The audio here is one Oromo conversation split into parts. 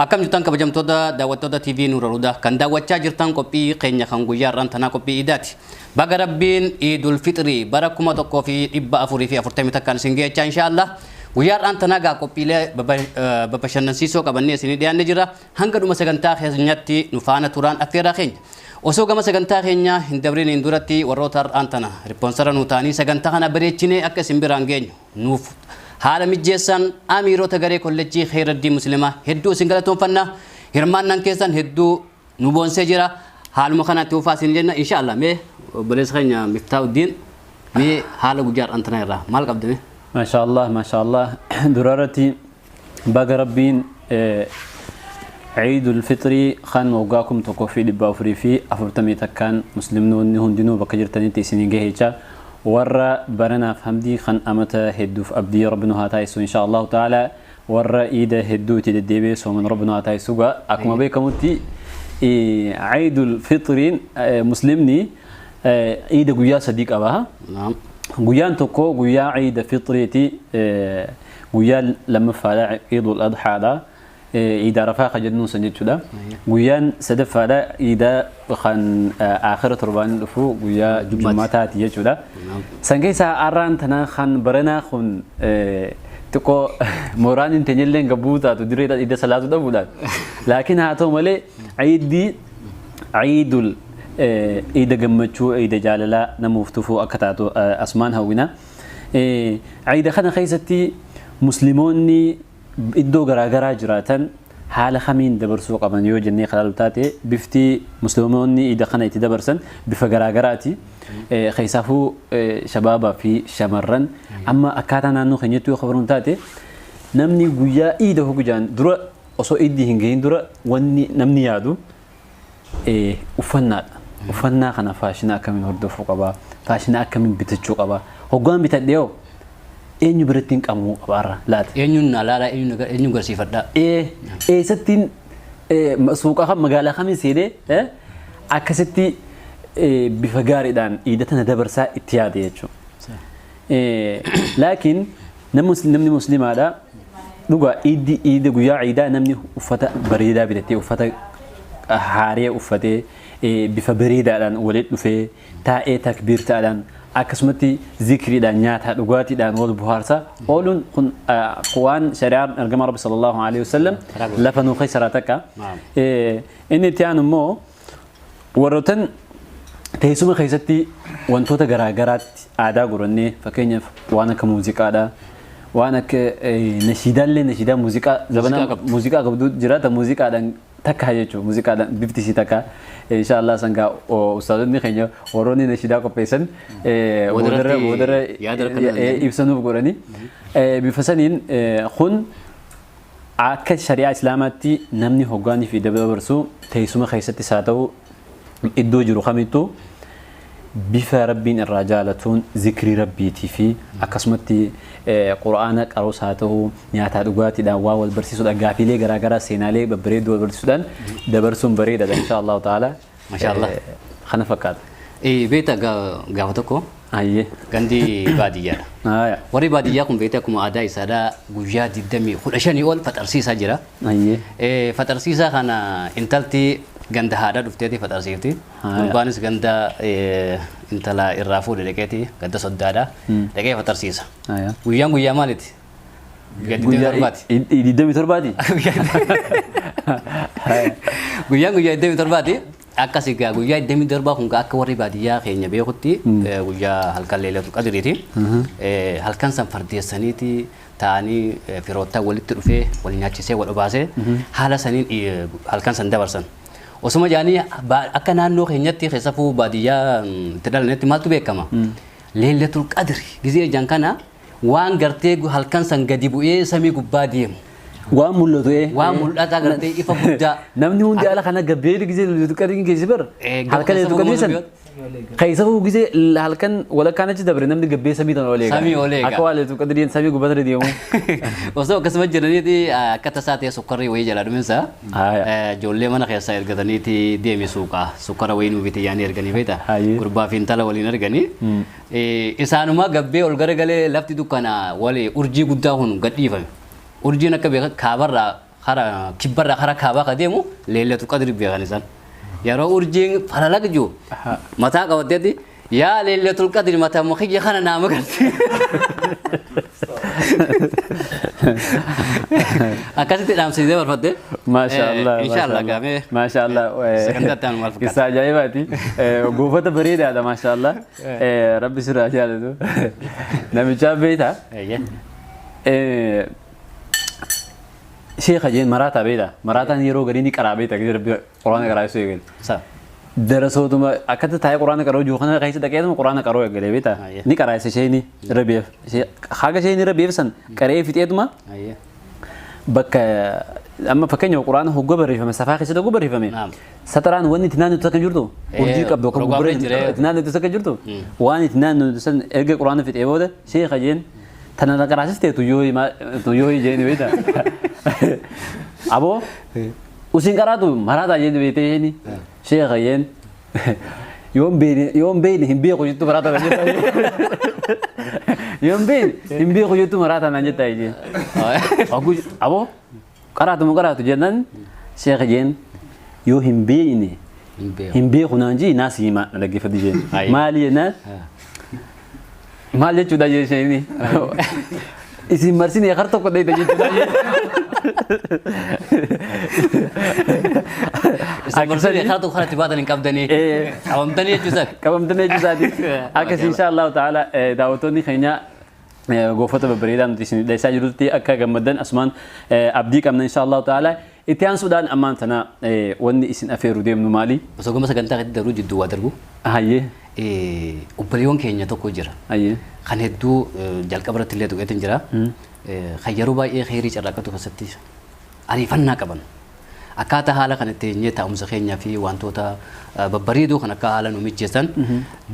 Akkam jirtan kabajamtoota daawwattoota TV Nuura Hudaa kan daawwachaa jirtan qophii keenya kan guyyaa har'aan tanaa qophii iidaati. Baga Rabbiin Iidul Fixrii bara 1441 isin geechaa inshaallah. Guyyaa har'aan tanaa gaa qophiilee babashannansiisoo qabannee isinii dhiyaanne jira. Hanga dhuma sagantaa keenyatti nu faana turaan affeeraa keenya. Osoo gama sagantaa keenyaa hin dabriniin duratti warroota har'aan tana ripoonsara nu taanii sagantaa kana bareechinee akka isin biraan geenyu nuuf haala mijjeessan amiirota garee kollejjii Kheyraddii Muslima hedduu isin galatoonfanna hirmaannaan keessan hedduu nu boonsee jira haaluma kanatti hufaa isin jenna insha Allah mee obboleessa keenya Miftaahuddiin mee haala guyyaa har'aan tana irraa maal qabda mee Masha Allah, Masha Allah. Durarati Baga Rabbiin Ciidul Fixrii kan waggaa kum tokkoo fi dhibba afurii fi afurtamii takkaan muslimnoonni hundinuu bakka jirtanitti isin hin gaheecha warra baranaaf hamdii kan amata hedduuf abdii rabbi nu haa taasisu insha Allahu ta'ala warra iida hedduu itti deddeebi'ee sooman rabbi nu haa taasisu gaa akkuma beekamutti Ciidul Fixriin muslimni iida guyyaa sadii qaba. Naam. Guyyaan tokko guyyaa ciida fixriiti Guyyaa lammaffaadha Iidul Adhaadha. Iida Arafaa kan jennuun san jechuudha. Guyyaan sadaffaadha Iida kan aakhira torbaan dhufu guyyaa Jummaataati jechuudha. San keessaa har'aan tana kan baranaa kun xiqqoo mooraan hin teenyellee gabbuu taatu dirree iida salaatu dhabuudhaan. Laakiin haa ta'u malee Iiddi Iidul Iida gammachuu Iida jaalalaa namuuf tufuu akka taatu asumaan hawwina. Ciida kana keessatti muslimoonni iddoo garaagaraa jiraatan haala kamiin dabarsuu qaban yoo jennee kan ilaallu taate bifti muslimoonni iida kana itti dabarsan bifa garaagaraati. Keessaafuu shabaabaa fi shamarran amma akkaataa naannoo keenyatti yoo kabaran taate namni guyyaa iida hogujaan dura osoo iddii hin gahin dura wanni namni yaadu Uffannaadha. Uffannaa kana faashina akkamiin hordofuu qaba? Faashina akkamiin bitachuu qaba? Hoggaan bitadhe hoo eenyu biratti hin qabamuu qaba har'a laata? Eenyuun na laala eenyuun garsiifadha? Eessattiin suuqa kan magaalaa kamiin seenee akkasitti bifa gaariidhaan iidata na dabarsaa itti yaade jechuudha. Laakiin namni muslimaadha dhugaa iiddi iida guyyaa iidaa namni uffata bareedaa bitatee uffata haaree uffatee bifa bareedaadhaan walitti dhufee taa'ee takbiirtaadhaan akkasumatti zikriidhaan nyaataa dhugaatiidhaan wal buhaarsaa ooluun kun waan shari'aan ergama rabbi sallallahu alaihi wasallam lafa nuu keessaraa takka inni itti aanu immoo warrootan teessuma keessatti wantoota garaa garaatti aadaa godhannee fakkeenyaaf waan akka muuziqaadha. Waan akka nashiidaallee nashiidaa muuziqaa zabana muuziqaa qabdu jiraata muuziqaadhaan takka jechuudha muuziqaadhaan bifti isii takka inshaallah sangaa ustaazonni keenya warroonni nashiidaa qopheessan boodarra boodarra ibsanuuf godhani bifa saniin kun Akka shari'aa Islaamaatti namni hoggaa nifii dabarsu teessuma keessattis haa ta'u iddoo jiru kamittuu bifa Rabbiin irraa jaalatuun zikrii Rabbiitii fi akkasumatti Qur'aana qaruus haa ta'u nyaataa dhugaatiidhaan waa wal barsiisuudhaan gaafiilee garaagaraa seenaalee babbareedduu wal barsiisuudhaan dabarsuun bareedaadha inshaa Allahu ta'ala. Masha Allah. Eh, Kana fakkaata. Eh, Beekta ga- gaafa tokko Ayyee. gandi baadiyyaadha. Haaya. Warri baadiyyaa kun beekta akkuma aadaa isaadhaa guyyaa 20 15 ol faxarsiisaa jira. Ayyee. Eh, Faxarsiisaa kana intalti ganda haadhaa dhufteeti faxarsiifti. Haaya. Gurbaanis ganda eh, intala irraa fuudhe dhaqeeti ganda soddaadha. Dhaqee faxarsiisa. Haaya. Guyyaan guyyaa maaliti? Guyyaa Guyyaa 27ti. i- i- 27ti? Guyyaan guyyaa 27ti. Akkas egaa guyyaa 27 kun akka warri baadiyyaa keenya beekutti eh, guyyaa halkan leelatu qadiriiti. Eh, Halkan san fardeessaniiti taa'anii eh, firoottan walitti dhufee wal nyaachisee wal obaasee haala saniin eh, halkan san dabarsan. Osuma jaanii ba- akka naannoo keenyatti keessafuu baadiyyaa mm, itti dhalanetti maaltu beekama? Leelatul qadri gizee jan kana waan gartee gu- halkan san gadi bu'ee samii gubbaa deemu Waan mul'atu ee. waan mul'ataa gartee ifa guddaa Namni hundi ala kana gabbeedu gisee lullutu qadiin geessi bar. Eh, gabbeessa Halkan eetu qadii san. gurmuun Keessafuu gisee halkan walakkaan achi dabre namni gabbeessa samii tan olee. Samii ol eega. Akka waa leetu qadiin samii gubbaa sana deemu. osoo akkasuma jiraniiti akka tasaa ta'e sukkarri wayii jalaa dhuminsa Haaya. ijoollee mana keessaa ergataniiti deemi suuqaa sukkara wayii nuu bitee yaanii erganii feeta Haayee. gurbaa fi intala waliin erganii Isaanuma gabbee ol garagalee lafti dukkanaawale urjii guddaa kun gad dhiifame. Urjiin akka beekan kaabarraa kara kibbarraa kara kaabaa ka deemu leellatu qadri beekan isaan. Yeroo urjiin falalaq jiru mataa qabatteetti yaa leellatul qadri mataa kiyya kana naa magarsiisa. Akkasitti dhaamsiisee barbaadde. Maashaallah. Inshaallah gaamee. Maashaallah. Sagantaa itti aanu maal fakkaata? Qissaa ajaa'ibaati. Goofata bareedaadha maashaallah. Rabbi sirraa jaalatu. Namichaa beekta. Sheekha jeen maraataa beekta. Maraataan yeroo garii ni qaraa beekta. Rabbi Quraana qaraa ibsuu eegale. Sa. Darasootuma akkatti taa'ee quraana qaroo jiru kana keessa dhaqeetuma quraana qaroo eegale beekta. Ayyee. Ni qaraa isa isheenii irra beef. Haga isheen irra beefsan qaree fixeetuma Ayyee. bakka amma fakkeenya quraana hogga barreeffame safaa keessatti hogga barreeffame Naam. sataraan wanni itti naannoo akka jirtu Eh, urjii qabdu akka rogaa gurguree jira. itti naannoo akka jirtu waan itti naannoo san erga quraana fixee booda sheekha jeen tana na qaraasistee tuyyoo himaa tuyyoo hijeen beekta aboo Usin qaraatu maraataa jee beetee jeeni sheeka jeen yoon beeyne yoon beeyne hin beeku jettu maraataa naan jettaa yoon beeyne hin beeku jettu maraataa naan jettaa jeen Oguu aboo qaraatu moo qaraatu jennaan sheeka jeen yoo hin beeyne hin beeku naan jii naa siimaa na dhaggeeffadhu jeen Ayi. maali jennaan Maal jechuudha jecha inni? Isin marsine har tokko dheeyta jechuudha. Isin marsine har tokko kanatti baatan hin qabdanii. Qabamtanii jechuudha. Qabamtanii jechuudhaati. Akkas insha Allahu ta'ala daawwattoonni keenya goofota babbareedaa nuti isin dhiyeessaa jirutti akka gammaddan asumaan abdii qabna insha Allahu ta'ala. Itti aansuudhaan ammaan tana wanni isin afeeru deemnu maali? Osoo gama sagantaa keetti dabruu jidduu waa darbu. Hayyee. Obboleewwan keenya tokko jira. Hayyee. Kan hedduu jalqaba irratti illee tuqeetiin jira. Kan yeroo baay'ee kheyrii carraaqqatu keessatti ariifannaa qaban. Akkaataa haala kan itti eenyee taa'umsa keenyaa fi wantoota babbareedoo kan akka haala nu mijjeessan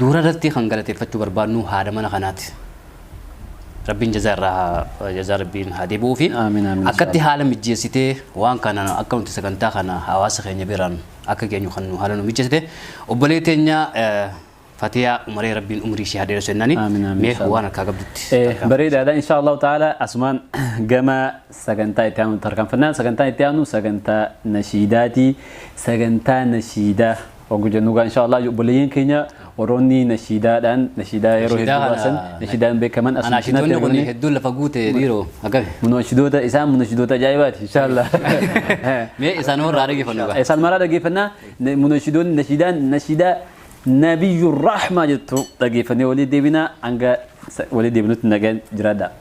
duura irratti kan galateeffachuu barbaadnu haadha mana kanaati. Rabbiin jazaa irraa haa jazaa rabbiin haa deebi'uufi. Aamin aamin Akkatti inshaallah. haala mijjeessitee waan kana akka nuti sagantaa kana hawaasa keenya biraan akka geenyu kan nu haala nu mijjeessite obbolee teenya eh, Fatiyaa Umaree rabbiin umrii ishee haa dheeressu jennaani. Aamin aamin Mee inshaallah. waan harkaa qabdutti. Eh, tarkaanfadhu. bareedaadha insha allahu ta'ala asumaan gama sagantaa itti aanu tarkaanfannaan sagantaan itti aanu sagantaa nashiidaati sagantaa nashiidaa Oguu jennu gaa inshaa Allah obboleeyyan keenya warroonni nashiidaadhaan nashiidaa yeroo Nashiidaa hedduu kana- baasan nashiidaan beekaman asuma Anaa cinatti shidoonni kun argamanii hedduun lafa guute dhiiroo akkami. munashidoota isaan munashidoota ajaa'ibaati inshaa Allah. Mee isaan warra dhaggeeffannu gaa. Isaan maraa dhaggeeffannaa munashidoonni nashiidaan nashiidaa nabiyyuu rahmaa jettu dhaggeeffannee walii deebinaa hanga walii deebinutti nagaan jiraadhaa.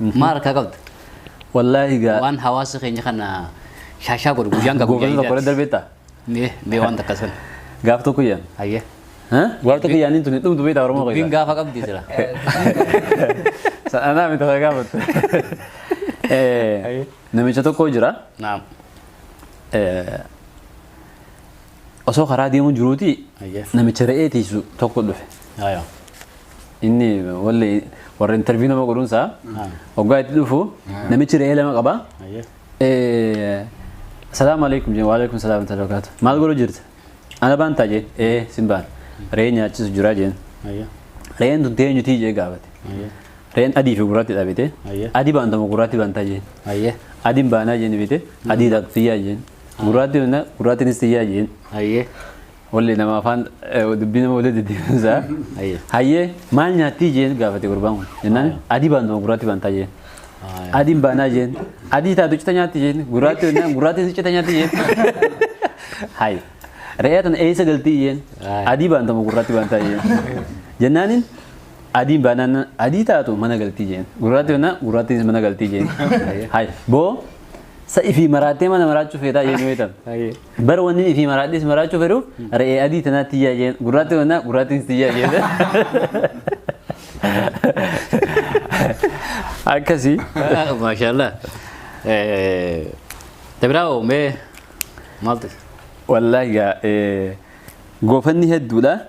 Maal harkaa qabda? Wallaahi gaa. Waan hawaasa keenya kana shaashaa godhu guyyaan gaa guyyaa Goofata tokko irra ijaati. darbee ta'a. Mee mee waan takka sun. Gaaf tokko yaan. Hayyee. Gaaf tokko yaaniin tuni dhumtu beektaa Oromoo Dubbiin keessaa. gaafa qabdi jira. Anaa miti kan gaafatu. Namicha tokko jira. Naam. Eh, osoo karaa deemuu jiruuti Ayyee. namicha re'ee tiisu tokko dhufe. Ayo. Inni walli warra interviyuu nama godhuun isaa Ah. hoggaa itti dhufu namichi re'ee lama qaba. Ayo. Eh, Salaamu alaikum jeen waalaikum salaam wa rahmatullahi wa barakaatu. Maal godhu jirta? Ana baantaa jeen ee sin baan re'ee nyaachisu jira jeen Ayo. re'een tun teenyu tii jee gaafate. Ayo. Re'een adii fi gurraatti dhaabite Ayyee. adii baantama gurraatti baantaa jeen Ayo. adiin baanaa jeen bite adii tiyyaa jeen Gurraatti minna gurraattinis tiyyaa jeen. Hayyee. Walli nama afaan dubbii nama walitti deddeebiinsa. Hayyee. Hayyee maal nyaattii jeen gaafate gurbaan kun. Jennaan adii baan nama gurraatti bantaa jeen. Adiin baanaa jeen. Adii taatu cita nyaatti jeen. Gurraatti jennaan gurraattinis cita nyaatti jeen. Hayi. Re'ee tana eessa galtii jeen. Adii baantama gurraatti bantaa jeen. Jennaaniin Adiin baanaan adii taatu mana galtii jeen. Gurraatti honnaa gurraattiinis mana galtii jeen. Hay boo sa ifii maraattee mana maraachuu feetaa jeen weetan. Hayyee. Bara wanni ifii maraadhis maraachuu fedhuuf re'ee adii tanaa tiyyaa jeen. Gurraatti honnaa gurraattiinis tiyyaa jeen. Akkasii. Maashaallah. Dabiraa oomee maaltu? Wallaahi gaa eh, goofanni hedduudha.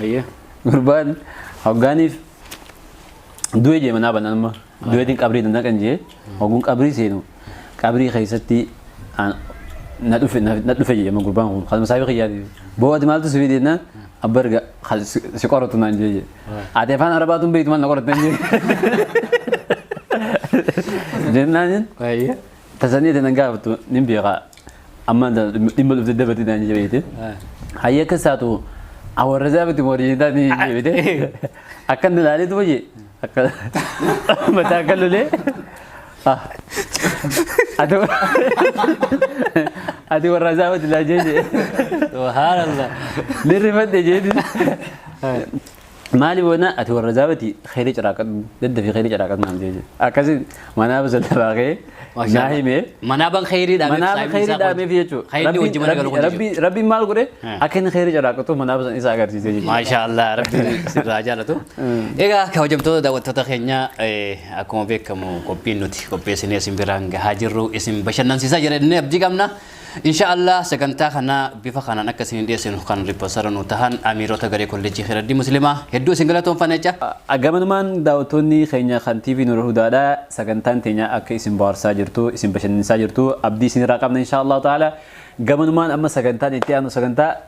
Ayyee gurbaan hoggaaniif du'e jee manaa banaan amma du'eetiin qabrii danda'a kan jee hogguun qabrii seenu qabrii keessatti aan- na dhufe na na dhufe jee amma gurbaan kun kan masaabii kiyyaati boo ati maaltu sifii deennaan abba erga kan si si qoratu naan jee jee ati afaan arabaatu hin beektu maal na qoratan jee jennaan Ayyee. Tasanii tanan gaafattu nin beekaa. Ammaan tana dhimma- dhimma dhufte dabarti naan jebeete. Hayya akka isaatu awarrasaa miti wariidaa ni jebeete. Akka inni ilaalee duba jee. Akka mataa akka lolee. Ah. Ati ati warrasaa miti laa jee jee. Subhanallah. Ni rifadhe jee. Maali boona ati warra zaabati khayri ciraaqadhu daddafi khayri ciraaqadhu naam jeeje akkasi manaaba sallabaa kee naa himee Manaabaan khayrii dhaabee manaaba khayri dhaameef jechuudha Khayrii wajji mana galu kun rabbi rabbi maal godhe Hmm. akka inni khayri ciraaqatu manaaba san isa agarsiise jechuudha Maashaa Allah rabbi sirraa jaalatu. Egaa kabajamtoota daawwattoota keenya eh, akkuma beekamu qophiin nuti qopheessinee isin biraan gahaa jirru isin bashannansiisaa jira jennee abdii qabna. Insha Allah sagantaa kana bifa kanaan akka isin dhiyeessinu kan ripoosara nu tahan amiirota garee kolleejjii Khayraddii Muslimaa hedduu isin galatoomfanna jecha. Agamanumaan daawwattoonni keenya kan TV Nura Hudaadha sagantaan teenya akka isin bohaarsaa jirtu isin bashannansiisaa jirtu abdii isinirraa qabna insha Allah ta'ala gamanumaan amma sagantaan itti aanu sagantaa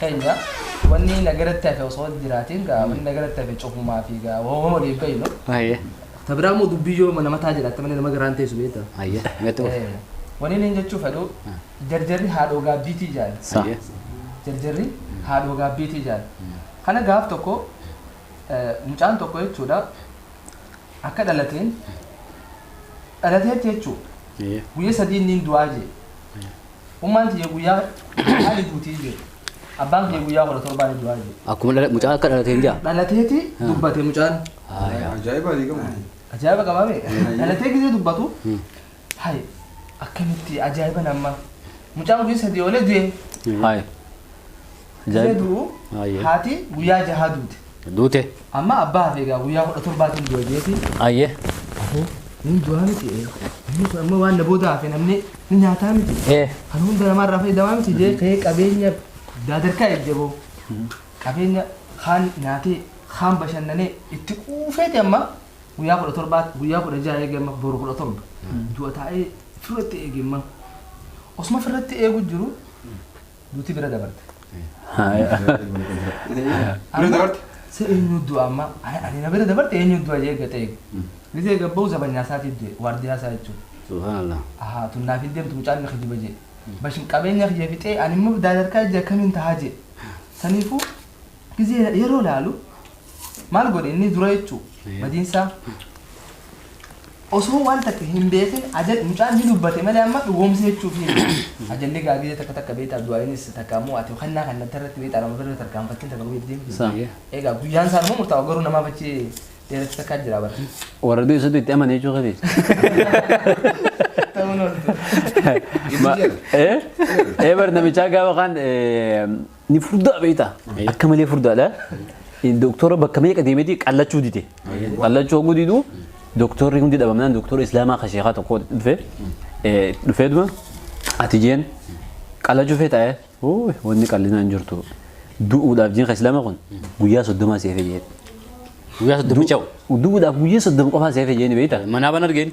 keenya wanni nagaratti hafe osoo jiraatiin gaa wanni nagaratti hafe cufumaa fi gaa hooma waliin beeynu Aye. ta biraa immoo dubbii yoo mana mataa jiraatte malee nama garaan teessu beekta Aye. Metu. Eh, wanni inni jechuu fedhu jarjarri haadhoo gaabbiitii jaan Sa. Aye. jarjarri haadhoo gaabbiitii jaan kana gaaf tokko eh, mucaan tokko jechuudha akka dhalateen dhalateetti jechuu Aye. guyya sadii inni hin du'aa jee Ummaan tiyya guyyaa jahaa ni duutii jee. Abbaan kiyya guyyaa kudha torbaa ni du'aa jee. Akkuma dhala- mucaa akka dhalateen jaa. Dhalateeti dubbate mucaan. Haaya. Ajaa'iba ni qabu. Ajaa'iba qabaa bee. Dhalatee gisee dubbatu. Hayi akkamitti ajaa'iba namma. Mucaan guyyaa sadii oolee du'e. Haaya. Ajaa'ib. du'u Ayyee. haati guyyaa jahaa duute. Duute. Amma abbaa hafe egaa guyyaa kudha torbaatiin du'a jeeti. Ayyee. Afoo inni du'aa miti ee. Inni kun amma waan na booda hafe namni ni nyaataa miti. Ee. Kan hunda namaarraa fayyadamaa miti jee ka'ee qabeenya daadarkaa ejjaboo. Qabeenya kaan nyaatee kaan bashannanee itti quufeeti amma guyyaa kudha torbaa guyyaa kudha jaha eegee amma boru kudha torba. Du'a taa'ee firratti eege amma. Osuma firratti eegu jiru duuti bira dabarte. Bira dabarte? Se eenyu du'a amma ani ani na bira dabarte eenyu du'a jee gata eegu. Gizee gabba'u zabanyaa isaatiif du'e waardiyaa isaa jechuudha. Subhaanallah. Ahaa tun naaf hin deemtu mucaan ni kijiba jee. Bashin qabeenya kiyya fixee ani immoo daadarkaa ijji akkamiin tahaa jee. Saniifuu Gizee yeroo laalu maal godhe inni dura jechuu badiinsaa osoo waan takka hin beekin ajal mucaan ni dubbate malee amma dhugoomse jechuuf hin ajalli gaa gizee takka takka beektaa du'aayinis takka ammoo ati kennaa kan natti irratti beektaa lama birra tarkaanfattiin takka guyyaa deemtu Sa. egaa guyyaan isaa immoo murtaa'u garuu namaaf achi dheeratti takka jira bara Warra du'e soddu itti amane jechuu keeti. ta'uu nooltu Eh? Eh bar namichaa gaafa kaan eh, Ni furdaa beektaa? Akka malee furdaadha. Doktora bakka meeqa deemeti qallachuu dide. Qallachuu hogguu didu doktorri hundi dhabamnaan doktora islaamaa kan sheekaa tokko dhufe dhufee duma ati jeen qallachuu feetaa ee Uuy, wanni qallinaa hin jirtu du'uudhaaf jeen kan islaamaa kun guyyaa soddomaa seefee jeen. Guyyaa soddoma ca'u. Du'uudhaaf guyyaa soddoma qofaa seefee jeen beektaa? Manaa ban argeen.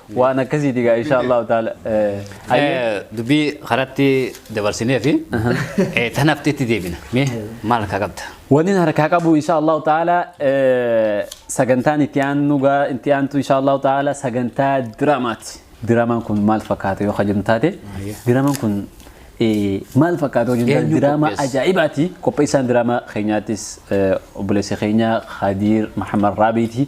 waan akkasiiti gaa insha allahu taala dubbii karatti dabarsinee fi tanafti itti deebina mee maal akka qabda Wanni harkaa qabu insha allahu taala sagantaan itti aannu gaa itti aantu insha allahu taala sagantaa diraamaati diraamaan kun maal fakkaata yoo kajennu taate diraamaan kun maal fakkaata yoo jennu Eenyu diraamaa qopheesse? ajaa'ibaati qopheessaan diraamaa keenyaattis obboleessa keenya Khadiir Mahammad Raabiiti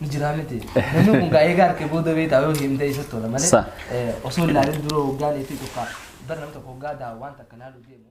ni jira miti. Namni kun gaa eegaa harkee booda beektaa yoo himtee isa tola malee Sa- eh, osoo ilaalin dura hoggaan itti tokko bara namni tokko hoggaa daa waan takka ilaaluu deemu.